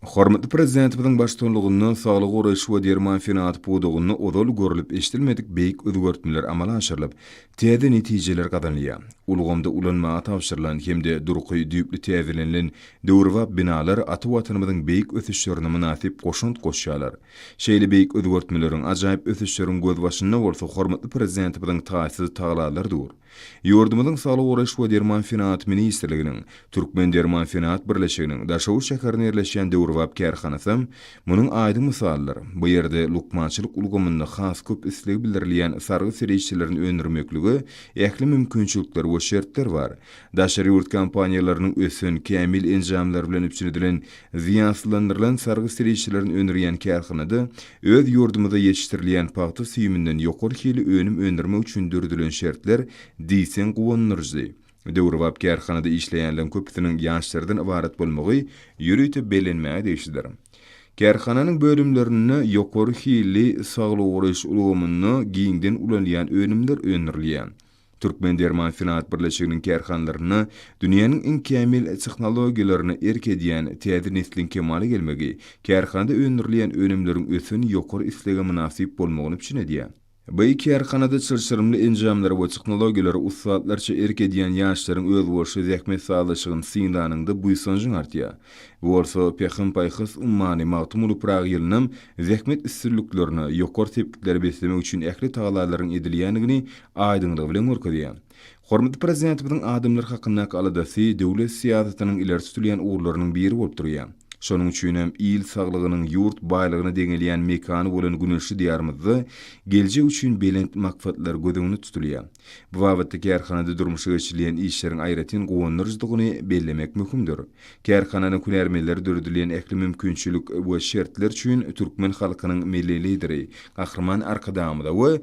Hormatly Prezidentimiziň baştutanlygynda saglygy goraýyş we derman senagaty pudagynda ozal görlüp-eşidilmedik beýik özgertmeler amala aşyrylyp, täze netijeler gazanylýar. Ulgamda ulanmaga tabşyrylan hem-de durky düýpli täzelenilen döwrebap binalar ata Watanymyzyň beýik ösüşlerine mynasyp goşant goşýarlar. Şeýle beýik özgertmeleriň, ajaýyp ösüşleriň gözbaşynda bolsa hormatly Prezidentimiziň taýsyz tagallalary dur. Ýurdumyzyň Saglygy goraýyş we derman senagaty ministrliginiň Türkmendermansenagat birleşiginiň Daşoguz şäherinde ýerleşýän döwrebap kärhanasy munuň aýdyň mysalydyr. Bu ýerde lukmançylyk ulgamynda has köp islegi bildirilýän sargy serişdelerini öndürmeklige ähli mümkinçilikler we şertler bar. Daşary ýurt kompaniýalarynyň ösen, kämil enjamlary bilen üpjün edilen zyýansyzlandyrylan sargy serişdelerini öndürýän kärhanada Öz ýurdumyzda ýetişdirilýän pagta süýüminden ýokary hili önüm öndürmek üçin döredilen şertler diýseň guwandyryjy. Döwrebap kärhanada işleýänleriň köpüsiniň ýaşlardan ybarat bolmagy ýörite bellenmäge degişlidir. Kärhananyň bölümlerinde ýokary hilli, saglygy goraýyş ulgamynda giňden ulanylýan önümler öndürilýär. Türkmendermansenagat birleşiginiň kärhanalarynda dünýäniň iň kämil tehnologiýalaryna erk edýän täze nesliň kemala gelmegi kärhanada öndürilýän önümleriň ösen ýokary islege mynasyp bolmagyny üpjün edýär. Bi kärhanada çylşyrymly enjamlara we tehnologiýalara ussatlarça erk edýän ýaşlaryň özboluşly zähmet sazlaşygyny synlanyňda buýsanjyň artýar. Bu bolsa Pähim-paýhas ummany Magtymguly Pyragy ýylynam zähmet üstünliklerine, ýokary sepgitlere beslemek üçin ähli tagallalaryň edilýändigini aýdyňlygy bilen görkezýär. Hormatly Prezidentimiziň adamlar hakyndaky aladasy döwlet syýasatynyň ileri tutulýan ugurlarynyň biri bolup durýar. Şonuň üçin hem il saglygynyň ýurt baýlygyna deňelýän mekany bolan güneşli Diýarymyzda geljek üçin belent maksatlar göz öňünde tutulýar. Bu babatda kärhanada durmuşa geçirilýän işleriň aýratyn guwandyryjydygyny bellemek möhümdir. Kärhananyň hünärmenleri döredilýän ähli mümkinçilik we şertler üçin türkmen halkynyň Milli Lideri Gahryman Arkadagymyza we